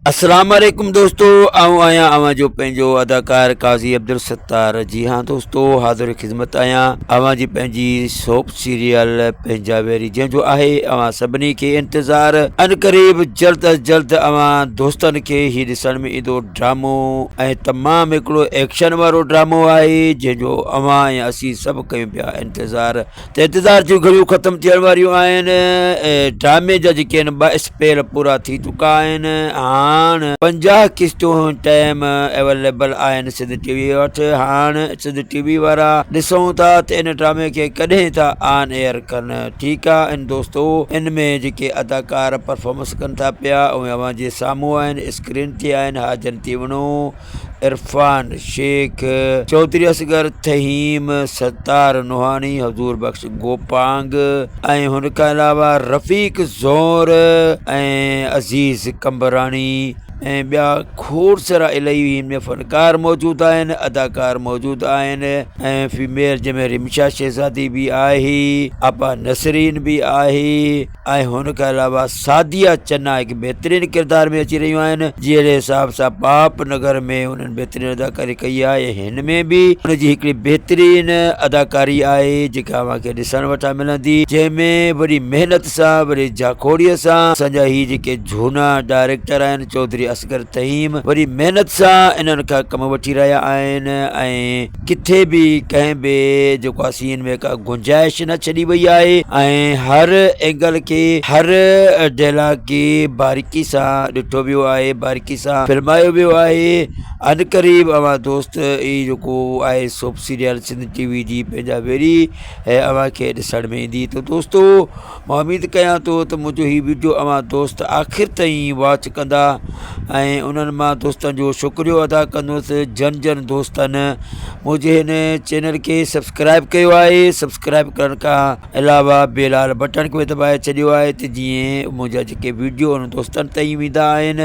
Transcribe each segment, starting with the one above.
السلام عليڪم دوستو آئون آهيان اوهان جو پنهنجو اداڪار قاضي عبدالستار جي هاں دوستو حاضر خدمت آهيان اوهان جي پنهنجي سوپ سيريل پنهنجا ويري جنهن جو آهي اوهان سڀني کي انتظار ان قريب جلد از جلد اوهان دوستن کي هي ڏسڻ ۾ ايندو ڊرامو ۽ تمام هڪڙو ايڪشن وارو ڊرامو آهي جنهن جو اوهان ۽ اسين سڀ ڪيون پيا انتظار ته انتظار جون گهڙيون ختم ٿيڻ واريون آهن ۽ ڊرامي جا جيڪي آهن ٻه اسپيل پورا ٿي چڪا آهن هاڻ پنجاهه قسطون ٽائيم اويليبل آهن سنڌ ٽي وي وٽ هاڻ سنڌ ٽي وي وارا ڏسون ٿا ته ان ڊرامي کي ڪڏهن ٿا آن ايئر ڪن ٺيڪ آهي ان دوستو ان ۾ جيڪي اداڪار پرفامنس ڪن ٿا پيا اهي اوهان جي سامهون آهن اسڪرين تي آهن ها جنتي وڻو عرفان شيخ، چوڌري اصغر تھيم، ستار نوحاڻي، حضور بخش گوپانگ ۽ ھن کان علاوه رفيق زئور ۽ عزيز قمبراڻي ۽ ٻيا کوڙ سارا الائي ھن ۾ فنڪار موجود آھن اداڪار موجود آھن ۽ فيميل جنھن ۾ رمشا شھزادي به آھي آپا نسرين به آھي ۽ هن کان علاوه سعديه چنا هڪ بهترين ڪردار ۾ اچي رهيون آهن جهڙي حساب سان پاپ نگر ۾ هنن بهترين اداڪاري ڪئي آهي ۽ هن ۾ به هن جي هڪڙي بهترين اداڪاري آهي جيڪا اوهان کي ڏسڻ وٽان ملندي جنهن ۾ وڏي محنت سان وڏي جاکوڙي سان اسان جا هي جيڪي جهونا ڊائريڪٽر آهن چوڌري اصغر تهيم وڏي محنت سان انهن کان ڪم وٺي رهيا آهن ۽ ڪٿي به ڪنهن به جيڪو آهي سين ۾ ڪا گنجائش نه ڇڏي وئي آهي ۽ هر اينگل کي هر ڊيلاگ کي باريڪي سان ڏٺو ويو آهي باريڪي سان فلمايو ويو آهي ان قريب اوهان دوست هي جيڪو آهي soap serial Sindh T V جي پنهنجا ويري هي اوهان کي ڏسڻ ۾ ايندي ته دوستو مان اميد ڪيان ٿو ته منهنجو هي وڊيو اوهان دوست آخر تائين واچ ڪندا ۽ انهن مان دوستن جو شڪريو ادا ڪندوس جن جن دوستن منهنجي هن چينل کي سبسڪرائب ڪيو آهي سبسڪرائب ڪرڻ کان علاوه بيلال بٽڻ کي به دٻائي ڇڏيو آهي ته جيئن منهنجا جيڪي وڊيو انهن دوستن تائين ويندا آهن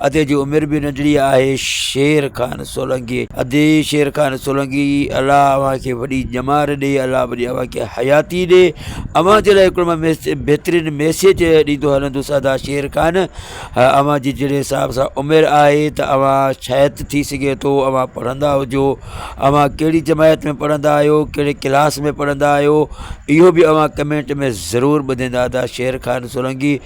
ادي جي عمر به ننڍڙي آهي. شير خان سولنگي، ادي شير خان سولنگي، الله اوهان کي وڏي ڄمار ڏي، الله وڏي اوهان کي حياتي ڏي. اوهان جي لاء هڪڙو مان بهترين ميسيج ڏيندو هلندس ادا شير خان، اوهان جي جهڙي حساب سان عمر آهي ته اوهان شايد ٿي سگهي ٿو اوهان پڙهندا هجو، اوهان ڪهڙي جماعت ۾ پڙهندا آهيو، ڪهڙي ڪلاس ۾ پڙهندا آهيو، اهو به اوهان ڪمينٽ ۾ ضرور ٻڌيندا ادا شير خان سولنگي.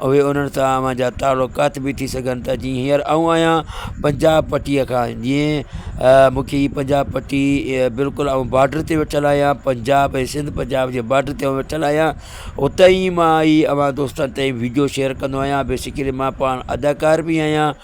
اهي انهن سان اوهان جا تعلقات به ٿي سگهن ٿا جيئن هينئر آئون آهيان پنجاب پٽيء کان جيئن مونکي هي پنجاب پٽي بلڪل آئون بارڊر تي ويٺل آهيان پنجاب ۽ سنڌ پنجاب جي بارڊر تي ويٺل آهيان اتهين مائي اوهان دوستن تائين وڊيو شيئر ڪندو آهيان بيسڪلي مان پاڻ اداڪار به آهيان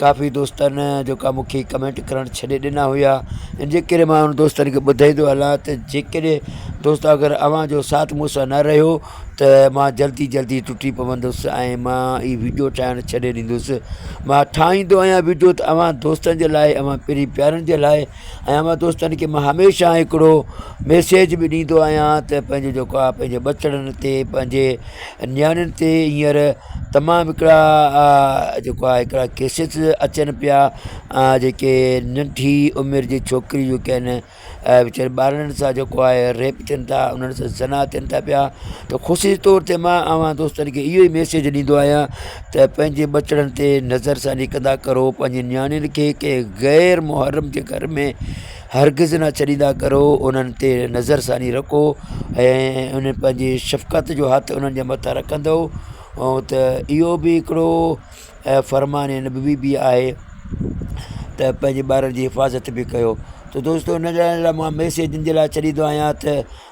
ڪافي دوستن جيڪا مونکي ڪمينٽ ڪرڻ ڇڏي ڏنا هيا ان جي ڪري مان ان دوستن کي ٻڌائيندو هلان ته جيڪڏهن دوست اگر اوهان جو ساٿ مون سان نه رهيو ته مان جلدي جلدي ٽٽي پوندس ۽ مان هي ويڊيو ٺاهڻ ڇڏي ڏيندس مان ٺاهيندو آهيان ويڊيو ته اوهان دوستن جي لاء اوهان پري پيارن جي لاء ۽ اوهان دوستن کي مان هميشه هڪڙو ميسيج به ڏيندو آهيان ته پنهنجو جيڪو آهي پنهنجي ٻچڙن تي پنهنجي نياڻين تي هينئر تمام هڪڙا جيڪو آهي هڪڙا ڪيسز اچن پيا جيڪي ننڍي عمر جي ڇوڪري جيڪي آهن ويچاري ٻارڙن سان جيڪو آهي ريپ ٿين ٿا انهن سان زنا ٿين ٿا پيا ته خصوصي طور تي مان اوهان دوستن کي اهو ئي ميسيج ڏيندو آهيان ته پنهنجي ٻچڙن تي نظرثاني ڪندا ڪرو، پنهنجي نياڻين کي ڪنهن غير محرم جي گهر ۾ هرگز نه ڇڏيندا ڪرو، انهن تي نظرثاني رکو ۽ انهن پنهنجي شفقت جو هٿ انهن جي مٿان رکندؤ ته اهو به هڪڙو فرمان نبوي به آهي ته پنهنجي ٻارن جي حفاظت به ڪيو ته دوستو ان لاء ميسيج ان لاء ڇڏيندو آهيان ته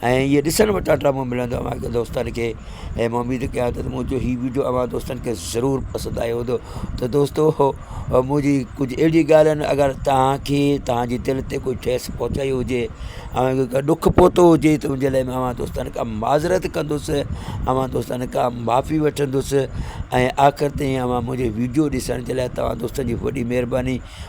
۽ اهي ڏسڻ وٽ اٽا مون ملندو اوهان کي دوستن کي ۽ مون اميد ڪيا ته منهنجو هي وڊيو اوهان دوستن کي ضرور پسند آيو هوندو ته دوستو هو منهنجي ڪجهه اهڙي ڳالهين اگر تهانکي تهانجي دل تي ڪوئي ٺيس پهچائي هجي اوهانکي ڪا ڏک پهتو هجي ته انجي لاء اوهان دوستن کان معذرت ڪندوسي اوهان دوستن کان معافي وٺندوسي ۽ آخر تائين اوهان منهنجي وڊيو ڏسڻ جي لاء توهان دوستن جي وڏي مهرباني